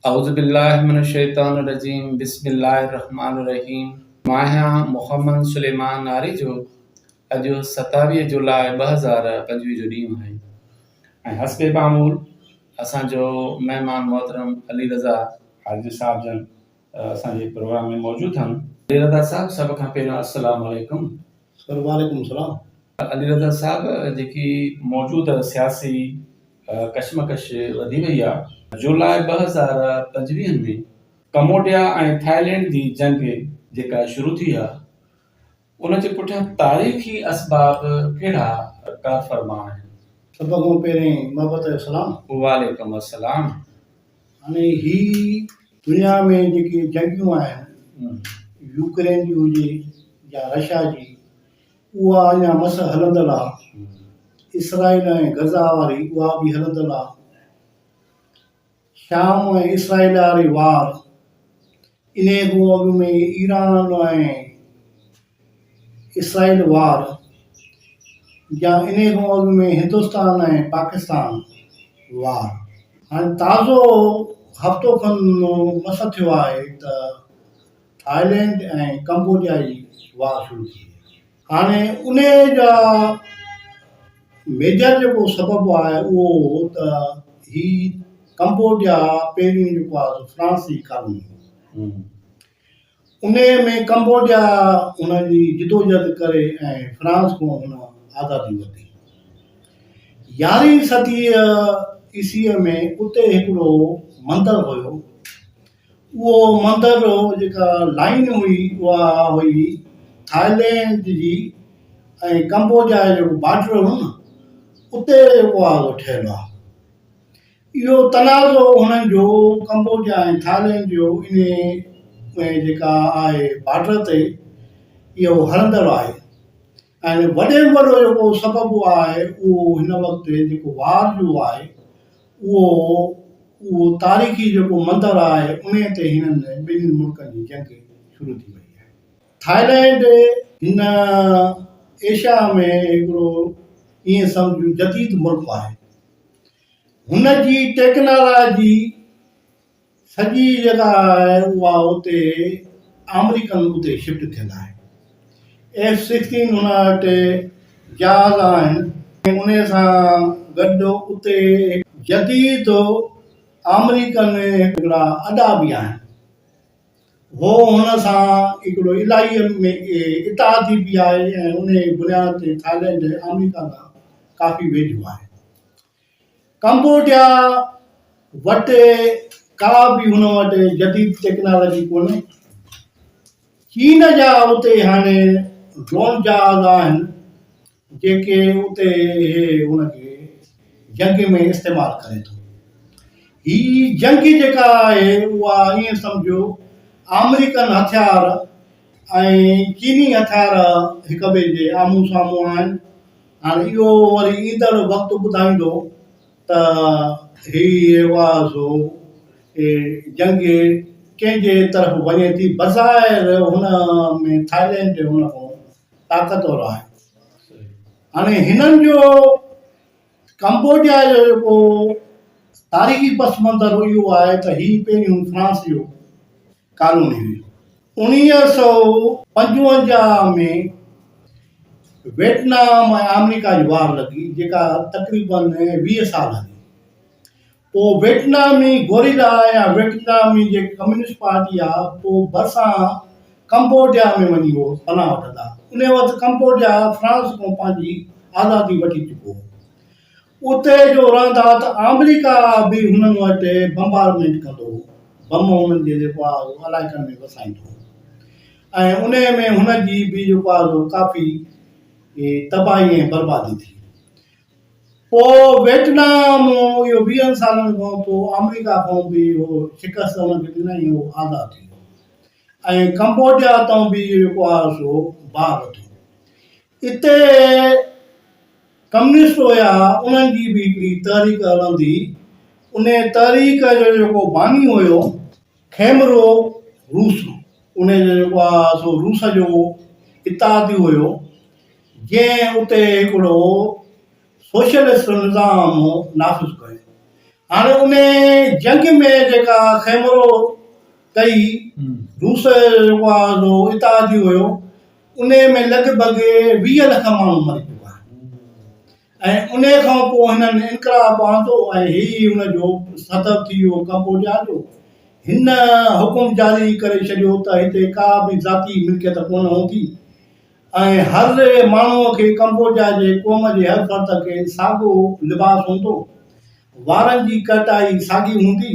اعوذ بالله من الشيطان الرجيم بسم الله الرحمٰن الرحيم ماهيان محمد سليمان ناري جو اڄ ستاويهه جولاء ٻه هزار پنجويهه جو ڏينهن آهي ۽ حسب معمول اسان جو مهمان محترم علي رضا حاجي صاحب جن اسان جي پروگرام ۾ موجود آهن. علي رضا صاحب سڀ کان پهريون السلام عليڪم. سر وعليڪم السلام. علي رضا صاحب جيڪي موجود سياسي ڪشمڪش وڌي وئي آ. جولاء ٻه هزار پنجويهه ۾ ڪموڊيا ۽ ٿائلينڊ جي جنگ جيڪا شروع ٿي آ ان جي پٺيان تاريخي اسباب ڪهڙا ڪارفرما آهن. سڀ کان پهرين محبت جو سلام. وعليڪم السلام. هاڻي هي دنيا ۾ جيڪي جنگيون آهن يوڪرين جي هجي يا رشيا جي اها اڃا مس هلندڙ آ اسرائيل ۽ غزا واري اها به هلندڙ آ شام ۽ اسرائيل واري وار انهي کان اڳ ۾ ايران ۽ اسرائيل وار يا انهيء کان اڳ ۾ هندستان ۽ پاڪستان وار. هاڻي تازو هفتو کن مس ٿيو آهي ته ٿائلينڊ ۽ ڪمبوڊيا جي وار شروع ٿي وئي آهي. هاڻي انهيء جا ميجر جيڪو سبب آهي اهو هو ته هي ڪمبوڊيا پهريون جيڪو آهي سو فرانسي ڪالوني هئي. انهيء ۾ ڪمبوڊيا هن جي جدوجهد ڪري ۽ فرانس کان هن آزادي ورتي. يارهين صديء عيسويء ۾ اتي هڪڙو مندر هيو. اهو مندر جيڪا لائين هئي اها هئي ٿائلينڊ جي ۽ ڪمبوڊيا جو جيڪو بارڊر هو نه اتي اها ٺهيل آهي. اهو تنازعو هنن جو ڪمبوڊيا ۽ ٿائلينڊ جو انهي ۾ جيڪا آهي بارڊر تي اهو هلندڙ آهي ۽ وڏي ۾ وڏو جيڪو سبب آهي اهو هن وقت جيڪو وار جو آهي اهو اهو تاريخي جيڪو مندر آهي انهي تي هنن ٻنهي ملڪن جي جنگ شروع ٿي وئي آهي ٿائلينڊ هن ايشيا ۾ هڪڙو ايئن سمجهه جديد ملڪ آهي. هن جي ٽيڪنالاجي سڄي جيڪا آهي اها اتي آمريڪن اتي شفٽ ٿيل آهي ايف سڪسٽين هن وٽ جهاز آهن ان سان گڏ اتي جديد آمريڪن هڪڙا اڏا به آهن هو هن سان هڪڙو الاهي ۾ اتحادي به آهي ۽ ان بنياد تي ٿائلينڊ آمريڪا کان ڪافي ويجهو آهي ڪمبوڊيا وٽ ڪا به هن وٽ جديد ٽيڪنالاجي ڪونهي. چين جا اتي هاڻي ڊرون جهاز آهن جيڪي اتي هي هن کي جنگ ۾ استعمال ڪري ٿو. هي جنگ جيڪا آهي اها ائين سمجهو آمريڪن هٿيار ۽ چيني هٿيار هڪ ٻئي جي آمهون سامهون آهن. هاڻ اهو وري ايندڙ وقت ٻڌائيندو ته هي آواز هو ۽ جنگ ڪنهن جي طرف وڃي ٿي. بظاهر هن ۾ ٿائلينڊ هن کان طاقتور آهي. هاڻي هنن جو ڪمبوڊيا جو جيڪو تاريخي پس منظر اهو آهي ته هي پهريون فرانس جو قانوني هئي. اڻويهه سؤ پنجونجاهه ۾ ويٽنام ۽ آمريڪا جي وار لڳي، جيڪا تقريباً ويهه سال هلي. پوء ويٽنامي گوريلا يا ويٽنامي جيڪي ڪميونسٽ پارٽي آ، پوء ڀرسان ڪمبوڊيا ۾ وڃي هو پناهه وٺندا. انهيء وقت ڪمبوڊيا فرانس کان پنهنجي آزادي وٺي چڪو هو. اتي جو رهندا ته آمريڪا به هنن وٽ بمبارمينٽ ڪندو هو، بم هنن جي جيڪو آهي اهو علائقن ۾ وسائيندو هو ۽ انهيء ۾ هن جي به جيڪو آهي سو ڪافي تباهي ۽ بربادي ٿي. پوء ويٽنام اهو ويهن سالن کان پوء آمريڪا کان به اهو شڪست هن کي ڏنائين ۽ اهو آزاد ٿي ويو ۽ ڪمبوڊيا تان به اهو جيڪو آهي سو باهه وڌو. اتي ڪميونسٽ هيا انهن جي به هڪڙي تحريڪ هلندي انهي تحريڪ جو جيڪو باني هيو کيمرو روس انهي جو جيڪو آ سو روس جو اتحادي هيو جنهن اتي هڪڙو سوشلسٽ نظام نافذ ڪيو هاڻي انهي جنگ ۾ جيڪا کيمرو ڪئي روس جو جيڪو آ سو اتحادي هيو انهيء ۾ لڳ ڀڳ ويهه لک ماڻهو مري چڪا آهن ۽ انهيء کان پوء هنن انقلاب آندو ۽ هي ئي ان جو سبب ٿي ويو ڪمبوڊيا جو هن حڪم جاري ڪري ڇڏيو ته هتي ڪا به ذاتي ملڪيت ڪونه هوندي ۽ هر ماڻهوء کي ڪمبوڊيا جي قوم جي هر فرد کي ساڳو لباس هوندو وارن جي ڪٽائي ساڳي هوندي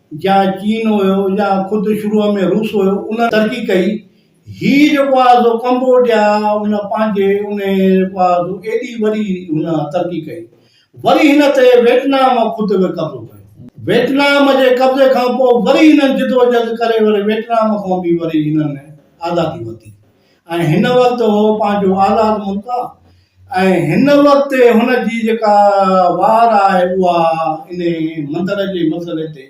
جا چين هيو يا خود شروع ۾ روس هيو ان ترقي ڪئي هي جيڪو آهي سو ڪمبوڊيا ان پنهنجي انهي جيڪو آهي سو ايڏي وڏي هن ترقي ڪئي وري هن تي ويٽنام خود به قبضو ڪيو ويٽنام جي قبضي کان پوء وري هنن جدوجھد ڪري وري ويٽنام کان به وري هنن آزادي ورتي ۽ هن وقت هو پنهنجو آزاد ملڪ آ ۽ هن وقت هن جي جيڪا وار آهي اها ان مندر جي مسئلي تي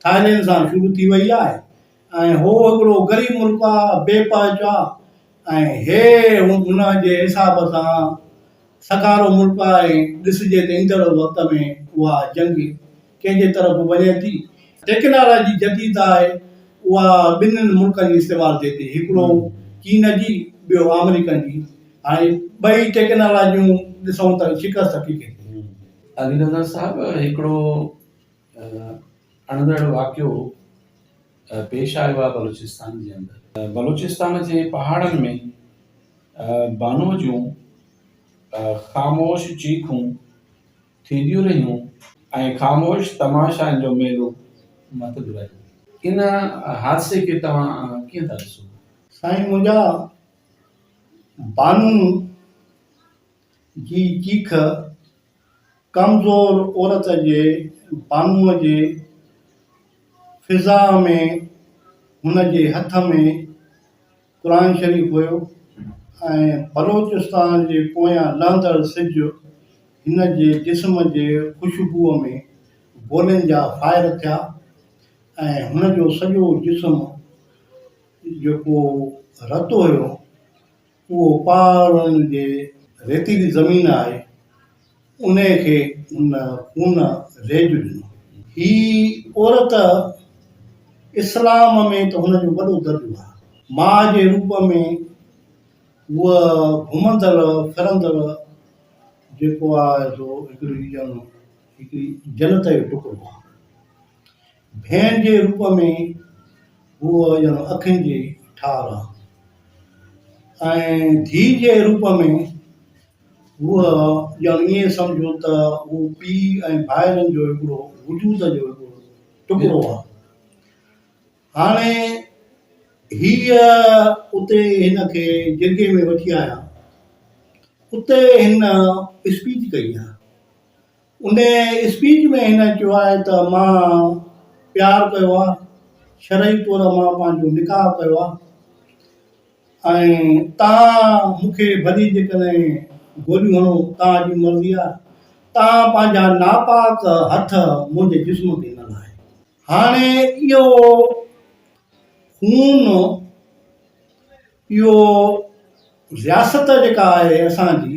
ٿائلينڊ سان شروع ٿي وئي آهي ۽ هو هڪڙو غريب ملڪ آ بي پهچ آ ۽ هي هن جي حساب سان سگهارو ملڪ آهي ڏسجي ته ايندڙ وقت ۾ اها جنگ ڪنهن جي طرف به وڃي ٿي. ٽيڪنالاجي جديد آهي اها ٻنهن ملڪن جي استعمال ٿئي ٿي هڪڙو چين جي ٻيو آمريڪن جي هاڻي ٻئي ٽيڪنالاجيون ڏسون ته شڪست ڪي ڪي ٿي. علي رضا صاحب هڪڙو اڻندڙ واقعو پيش آيو آهي بلوچستان جي اندر بلوچستان جي پهاڙن ۾ بانو جون خاموش چيخون، ٿينديون رهيون ۽ خاموش تماشائن جو ميلو متل رهيو. ان حادثي کي توهان ڪيئن ٿا ڏسو؟ سائين منهنجا بانو جي چيخ ڪمزور عورت جي بانو جي فضا ۾ هن جي هٿ ۾ قرآن شريف هيو ۽ بلوچستان جي پويان لهندڙ سج هن جي جسم جي خوشبوء ۾ گولين جا فائر ٿيا ۽ هن جو سڄو جسم جيڪو رتو هيو اهو پهاڙن جي ريتيلي زمين آهي انهيء کي هن خون ريج ڏنو. هيء عورت اسلام ۾ ته هن جو وڏو درجو آهي. ماء جي روپ ۾ هوء گهمندڙ ڦرندڙ جيڪو آهي سو هڪڙي جنت جو ٽڪرو آهي. ڀين جي روپ ۾ هوء ڄڻ اکين جي ٺار آ ۽ ڌيء جي روپ ۾ هوء ڄڻ ائين سمجهو ته هو پيء ۽ ڀائرن جو هڪڙو وجود جو هڪڙو ٽڪرو آ. هاڻي هيء اتي هن کي جرڳي ۾ وٺي آيا. اتي هن اسپيچ ڪئي آ. ان اسپيچ ۾ هن چيو آهي ته مان پيار ڪيو آهي، شرعي طور مان پنهنجو نڪاح ڪيو آهي ۽ توهان مون کي ڀلي جيڪڏهن گوليون هڻو توهان جي مرضي آهي، توهان پنهنجا ناپاڪ هٿ منهنجي جسم تي نه لاهيو. هاڻي اهو خون، اهو رياست جيڪا آهي اسان جي،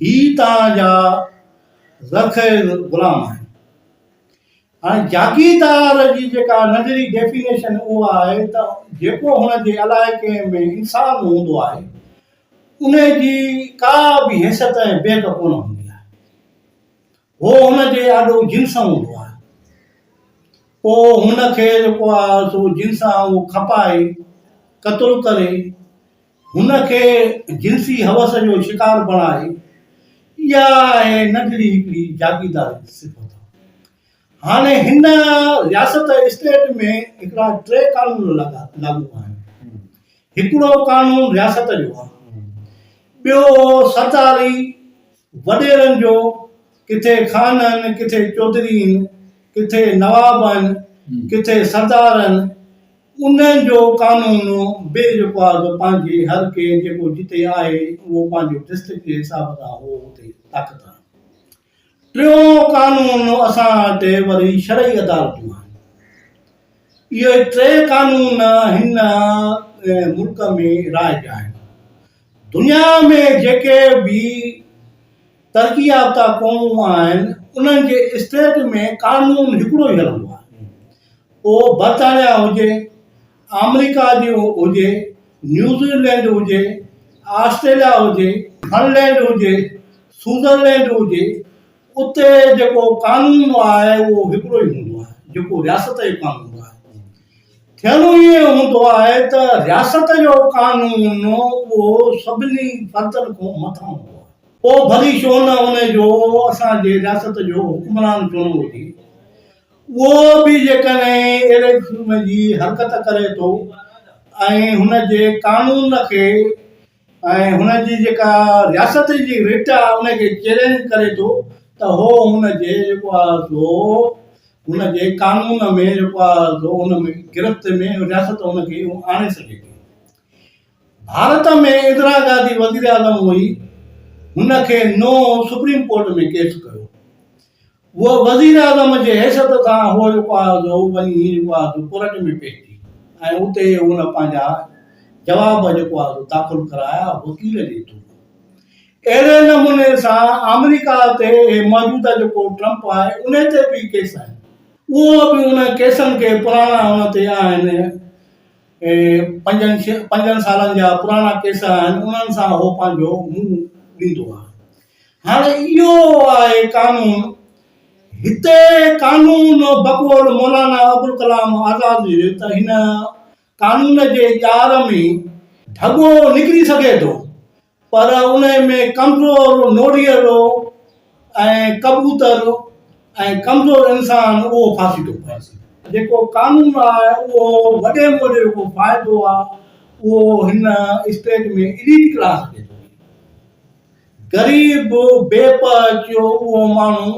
هي توهان جا ذخير غلام آهن. هاڻي جاگيردار جي جيڪا نظري ڊيفينيشن اها آهي ته جيڪو هن جي علائقي ۾ انسان هوندو آهي ان جي ڪا به حيثيت ۽ بيڪ ڪونه هوندي آهي. هو هن جي آڏو جنس هوندو آهي. پوء هن کي جيڪو آهي سو جنس آهي اهو کپائي قتل ڪري هن کي جنسي حوس جو شڪار بڻائي اها آهي ننڍڙي هڪڙي جاگيرداري جي صفت هاڻي هن رياست اسٽيٽ ۾ هڪڙا ٽي قانون لڳا لاڳو آهن هڪڙو قانون رياست جو آهي ٻيو سرڪاري وڏيرن جو ڪٿي خان آهن، ڪٿي چوڌري آهن، ڪٿي نواب آهن، ڪٿي سردار آهن، انهن جو قانون به جيڪو آهي سو پنهنجي هر ڪنهن جيڪو جتي آهي اهو پنهنجو ڊسٽرڪٽ جي حساب سان اهو اتي طاقت آهي. ٽيون قانون اسان وٽ وري شرعي عدالتون آهن. اهي ٽي قانون هن ملڪ ۾ رائج آهن. دنيا ۾ جيڪي به ترقي يافته قومون آهن، انهن جي اسٽيٽ ۾ قانون هڪڙو ئي هلندو آهي. پوء برطانيا هجي، آمريڪا جي هجي، نيوزيلينڊ هجي، آسٽريليا هجي، فنلينڊ هجي، سوئزرلينڊ هجي، اتي جيڪو قانون آهي اهو هڪڙو ئي هوندو آهي جيڪو رياست جو قانون آهي. ٿيڻو ائين هوندو آهي ته رياست جو قانون اهو سڀني فردن کان مٿان هوندو آهي. پوء ڀلي ڇو نه ان جو اسان جي رياست جو حڪمران چونو هجي. اهو به جيڪڏهن اهڙي قسم جي حرڪت ڪري ٿو ۽ هن جي قانون کي ۽ هن جي جيڪا رياست جي رٽ آ ان کي چئلينج ڪري ٿو ته هو هن جي جيڪو آ سو هن جي قانون ۾ جيڪو آ سو ان ۾ گرفت ۾ رياست ان کي آڻي سگهي ٿي. ڀارت ۾ اندرا گانڌي وزيراعظم هئي هن کي نو سپريم ڪورٽ ۾ ڪيس ڪيو. هوء وزيراعظم جي حيثيت سان هوء جيڪو آهي سو هوء وڃي هيء جيڪو آهي سو ڪورٽ ۾ پيش ٿي ۽ اتي هن پنهنجا جواب جيڪو آهي سو داخل ڪرايا وڪيل جي ٿرو. اهڙي نموني سان آمريڪا تي هي موجوده جيڪو ٽرمپ آهي ان تي به ڪيس آهن اهو به ان ڪيسن کي پراڻا ان تي آهن پنجن پنجن سالن جا پراڻا ڪيس آهن انهن سان هو پنهنجو منهن ڏيندو آهي. هاڻي اهو آهي قانون. هتي قانون بقول مولانا ابوالڪلام آزاد جي ته هن قانون جي ڄار ۾ ڍڳو نڪري سگهي ٿو پر ان ۾ ڪمزور نوريلو ۽ ڪبوتر ۽ ڪمزور انسان اهو ڦاسي ٿو پئي. جيڪو قانون آهي اهو وڏي مون جو جيڪو فائدو آهي اهو هن اسٽيٽ ۾ اليٽ ڪلاس کي ٿو ڏئي. غريب، بي پهه اچيو اهو ماڻهو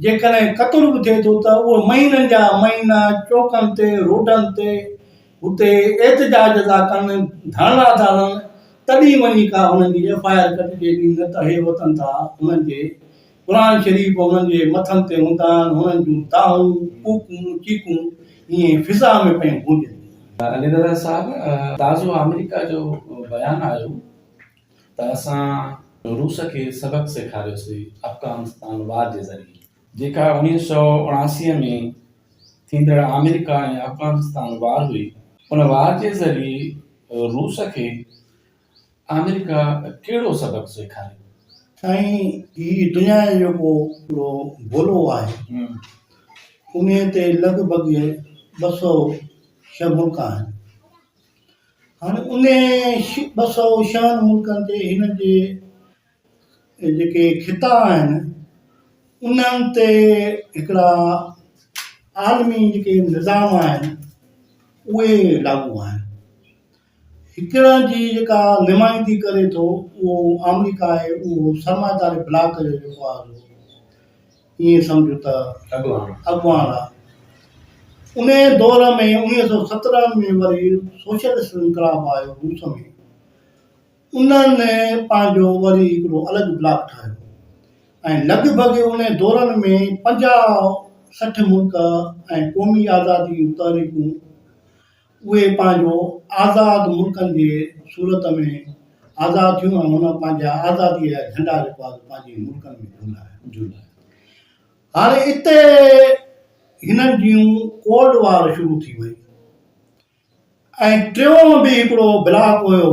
جيڪڏهن قتل به ٿئي ٿو ته اهو مهينن جا مهينا چوڪن تي، روڊن تي اتي احتجاج ٿا ڪن، ڌرڻا ٿا هڻن، تڏهن وڃي ڪا هنن جي ايف آء آر ڪٽجي ٿي نه ته هي وتن ٿا هنن جي قرآن شريف هنن جي مٿن تي هوندا آهن، هنن جون دانهون، ڪوڪون، چيڪون ائين فضا ۾ پيون گونجن ٿيون. علي رضا صاحب تازو آمريڪا جو بيان آيو ته اسان روس کي سبق سيکاريوسي افغانستان وار جي ذريعي جيڪا اڻيهه سؤ اڻاسي ۾ ٿيندڙ آمريڪا ۽ افغانستان وار هئي ان وار جي ذريعي روس کي آمريڪا ڪهڙو سبق سيکاريو. سائين هي دنيا جو جيڪو پورو گولو آهي انهي تي لڳ ڀڳ ٻه سؤ ڇهه ملڪ آهن هاڻي انهي ٻه سئو شهن ملڪن تي هن جي جيڪي خطا آهن انهن تي هڪڙا عالمي جيڪي نظام آهن اهي لاڳو آهن هڪڙا جي جيڪا نمائندي ڪري ٿو اهو آمريڪا آهي اهو سرمائيداري بلاڪ جو جيڪو آهي ائين سمجهه ته اڳواڻ آ. انهيء دور ۾ انويهه سئو سترهن ۾ وري سوشلسٽ انقلاب آيو روس ۾. انهن پنهنجو وري هڪڙو الڳ بلاڪ ٺاهيو ۽ لڳ ڀڳ انهيء دورن ۾ پنجاهه سٺ ملڪ ۽ قومي آزادي جون تحريڪون اهي پنهنجو آزاد ملڪن جي صورت ۾ آزاد ٿيون ۽ هن پنهنجا آزاديء جا جهنڊا جيڪو آهي سو پنهنجي ملڪن ۾ جهولايا. هاڻي اتي هنن جيون ڪولڊ وار شروع ٿي وئي ۽ ٽيون به هڪڙو بلاڪ هيو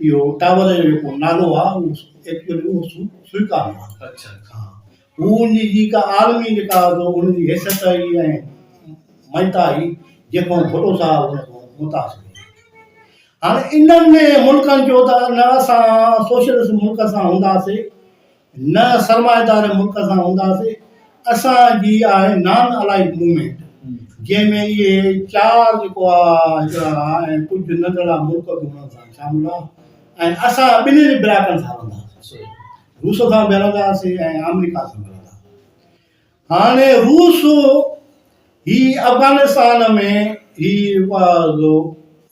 اهو ٽاور جو جيڪو نالو آهي اهو ايڪچوئلي اهو سوئيڪا جو آهي. اڇا اڇا. هو ان جي جيڪا عالمي جيڪا ان جي حيثيت آهي ۽ مڃتا آهي جيڪو ڀٽو صاحب ان کان متاثر هاڻي انهن ملڪن جو ته نه اسان سوشلسٽ ملڪ سان هونداسي نه سرمائيدار ملڪ سان هونداسين، اسان جي آهي نان الائيڊ موومينٽ جنهن ۾ اهي چار جيڪو آ هڪڙا آ ۽ ڪجهه ننڍڙا ملڪ به انهن سان شامل آ ۽ اسان ٻنهين براڪن سان هلنداسين، روس سان به هلنداسين ۽ آمريڪا سان به هلنداسين. هاڻي روس هي افغانستان ۾ هي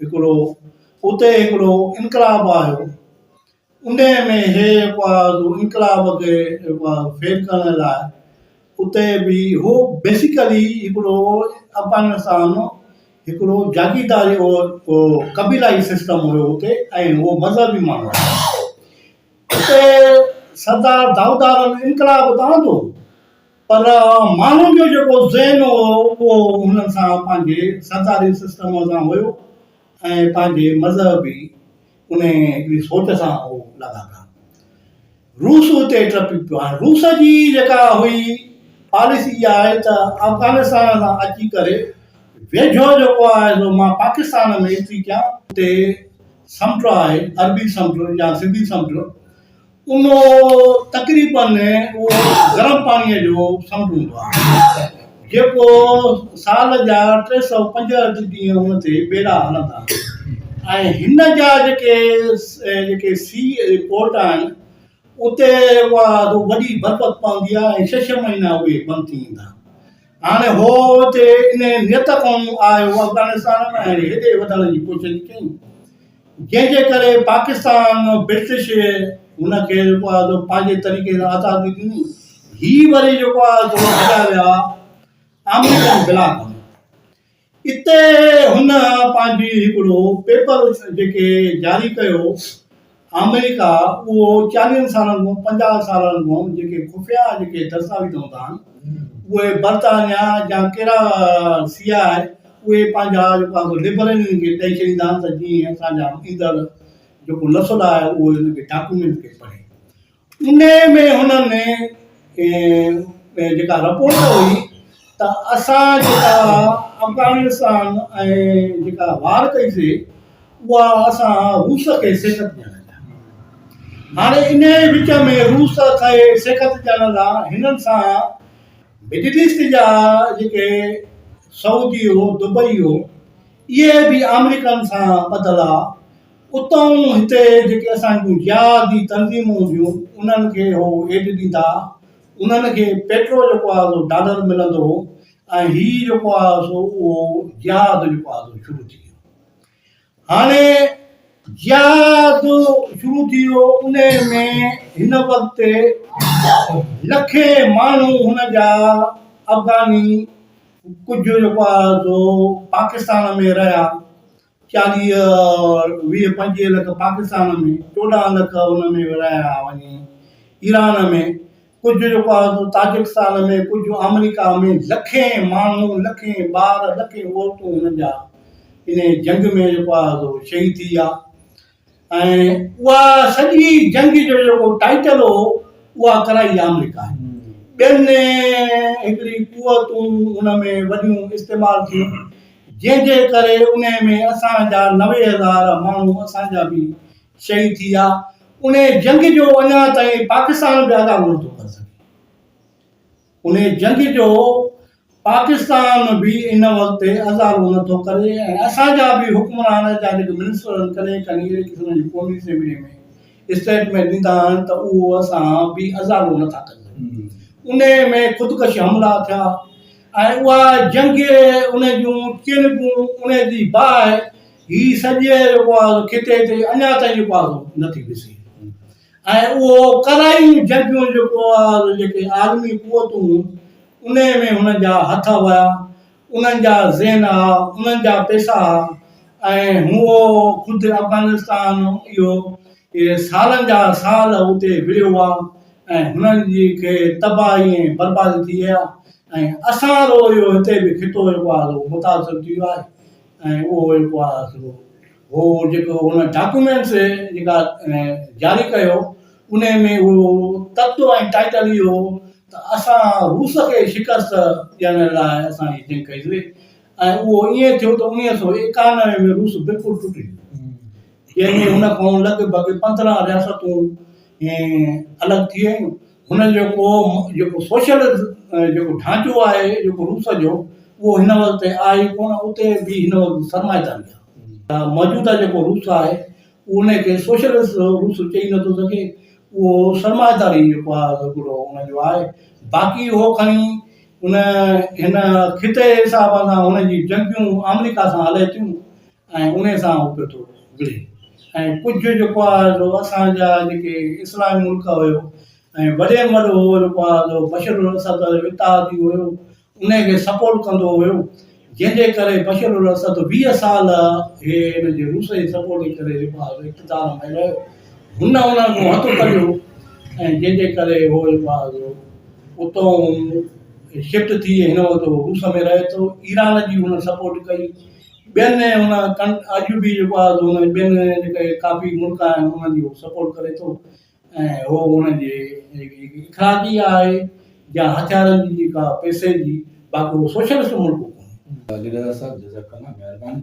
هڪڙو اتي هڪڙو انقلاب آيو انهيء ۾ هي اپواز انقلاب کي فيل ڪرڻ لاء اتي به هو بيسيڪلي هڪڙو افغانستان هڪڙو جاگيرداري هو قبيلائي سسٽم هيو اتي ۽ هو مذهبي ماڻهو اتي سردار دائود عالم انقلاب ته آندو پر ماڻهن جو جيڪو ذهن هو اهو هن سان پنهنجي سرداري سسٽم سان هيو ۽ پنهنجي مذهبي انهيء هڪڙي سوٽ سان هو لاڳاپيل هو. روس اتي ٽپي پيو. هاڻ روس جي جيڪا هئي پاليسي اها آهي ته افغانستان سان اچي ڪري ويجهو جيڪو آهي سو مان پاڪستان ۾ اينٽري ڪيان. اتي سمنڊ آهي، عربي سمنڊ يا سنڌي سمنڊ. ان تقريبن اهو گرم پاڻيء جو سمنڊ هوندو آهي، جيڪو سال جا ٽي سؤ پنجهٺ ڏينهن ان تي ٻيڙا هلندا آهن ۽ هن جا جيڪي جيڪي سي پورٽ آهن، اتي اها وڏي بربت پوندي آهي ۽ ڇهه ڇهه مهينا اهي بند ٿي ويندا. هاڻي هو اتي انهيء نيت کان آيو افغانستان ۾ ۽ هتي وڌڻ جي ڪوشش ڪيائين. جنهن جي ڪري پاڪستان برٽش هن کي جيڪو آهي سو پنهنجي طريقي سان آزادي ڏني هي وري جيڪو آهي سو هليا ويا آمريڪن بلاڪ ۾ اتي هن پنهنجي هڪڙو پيپر جيڪي جاري ڪيو آمريڪا اهو چاليهن سالن کان پنجاهه سالن کان جيڪي خفيا جيڪي دستاويز هوندا آهن اهي برطانيا جا ڪهڙا سي آء اهي پنهنجا جيڪو آهن سو لبرل ان کي ڏئي ڇڏيندا آهن ته جيئن اسان جا ايندڙ جيڪو نسل آهي اهو ان کي ڊاڪومينٽ کي پڙهي. انهي ۾ هنن جيڪا رپورٽ هئي ته اسان جيڪا افغانستان ۽ جيڪا وار ڪئي سي اها اسان روس کي شڪست ڏيڻ لاء هاڻي انهي وچ ۾ روس کي شڪست ڏيڻ لاء هنن سان مڊل ايسٽ جا جيڪي سعودي هو دبئي هو اهي به آمريڪن سان ٻڌل ها اتئون هتي جيڪي اسان جون جهادي تنظيمون هونديون انهن کي هو ايڊ ڏيندا انهن کي پيٽرو جيڪو آهي سو ڊالر ملندو هو ۽ هي جيڪو آهي سو اهو جهاد جيڪو آهي سو شروع ٿي ويو هاڻي جهاد شروع ٿي ويو انهي ۾ هن وقت لکين ماڻهو هن جا افغاني ڪجهه جيڪو آهي سو پاڪستان ۾ رهيا چاليهه ويهه پنجويهه لک پاڪستان ۾ چوڏهن لک هن ۾ رهيا وڃي ايران ۾ ڪجهه جو پاڙو تاجڪستان ۾ ڪجهه آمريڪا ۾ لکين ماڻهو لکين ٻار لکين عورتون هنن جا انهي جنگ ۾ جيڪو آهي سو شهيد ٿي ويا ۽ اها سڄي جنگ جو جيڪو ٽائيٽل هو اها ڪرائي آمريڪا ٻين هڪڙي قوتون ان ۾ وڏيون استعمال ٿيون جنهن جي ڪري ان ۾ اسان جا نوي هزار ماڻهو اسان جا به شهيد ٿي ويا، انهيء جنگ جو اڃا تائين پاڪستان به ادا ڪونه ٿو ڪري سگهي. انهيء جنگ جو پاڪستان به ان وقت ازالو نه ٿو ڪري ۽ اسان جا به حڪمران ۽ جا جيڪي منسٽر آهن ڪڏهن ڪڏهن اهڙي قسم جون قومي اسيمبليء ۾ اسٽيٽمينٽ ڏيندا آهن ته اهو اسان به ازالو نه ٿا ڪري سگهون. انهيء ۾ خودڪش حملا ٿيا ۽ اها جنگ ان جون چيلنگون، انهيء جي باهه، هي سڄي جيڪو آهي خطي تي اڃا تائين جيڪو آهي نه ٿي ڏسي ۽ اهو ڪرائي جنگيون جيڪو آهي جيڪي عالمي قوتون ان ۾ هنن جا هٿ هيا انهن جا ذهن هئا انهن جا پيسا هئا ۽ هو خود افغانستان اهو سالن جا سال اتي وڙهيو هئا ۽ هنن جي کي تباهي ۽ بربادي ٿي ويا ۽ اسان رو اهو هتي به خطو جيڪو آهي متاثر ٿي ويو آهي ۽ اهو ئي ڪو آسرو هو جيڪو هن ڊاڪيومينٽس جيڪا جاري ڪيو انهي ۾ اهو تت ۽ ٽائيٽل ئي هو ته اسان روس کي شڪست ڏيڻ لاء اسان هي جنگ ڪئي هئي ۽ اهو ائين ٿيو ته انويهه سؤ ايڪانوي ۾ روس بلڪل ٽٽي ويو جنهن ۾ هن کان لڳ ڀڳ پندرهن رياستون الڳ ٿي ويون هن جو جيڪو جيڪو سوشل جيڪو ڍانچو آهي جيڪو روس جو اهو هن وقت تائين آهي ئي ڪونه اتي به هن وقت سرمائيداري آهي موجوده جيڪو روس آهي اهو ان کي سوشلسٽ روس چئي نٿو سگهي اهو سرمائيداري جيڪو آهي سو گرو ان جو آهي باقي اهو کڻي ان هن خطي حساب سان هن جي جنگيون آمريڪا سان هلي ٿيون ۽ انهي سان اک ٿو اگهڙي ۽ ڪجهه جيڪو آهي سو اسان جا جيڪي اسلامي ملڪ هيو ۽ وڏي ۾ وڏو هو جيڪو آهي سو بشر الاسد اتحادي هيو انهي کي سپورٽ ڪندو هيو جنهن جي ڪري بشر الاسد ويهه سال هي هن جي روس جي سپورٽ جي ڪري جيڪو آهي سو اقتدار ۾ رهيو هن انهن کان هٿ ڪڍيو ۽ جنهن جي ڪري هو جيڪو آهي سو اتئون شفٽ ٿي هن وقت هو روس ۾ رهي ٿو ايران جي هن سپورٽ ڪئي ٻين ۽ هن ڪن آجوبي جيڪو آهي سو هن ٻين جيڪا هي ڪافي ملڪ آهن انهن جي هو سپورٽ ڪري ٿو ۽ هو انهن جي جيڪي هيڪي اخلاقي آهي يا هٿيارن جي جيڪا پئسي جي باقي هو سوشلسٽ ملڪ ڪونهي. ڀلي ڏاڏا صاحب جزاڪ الله مهرباني.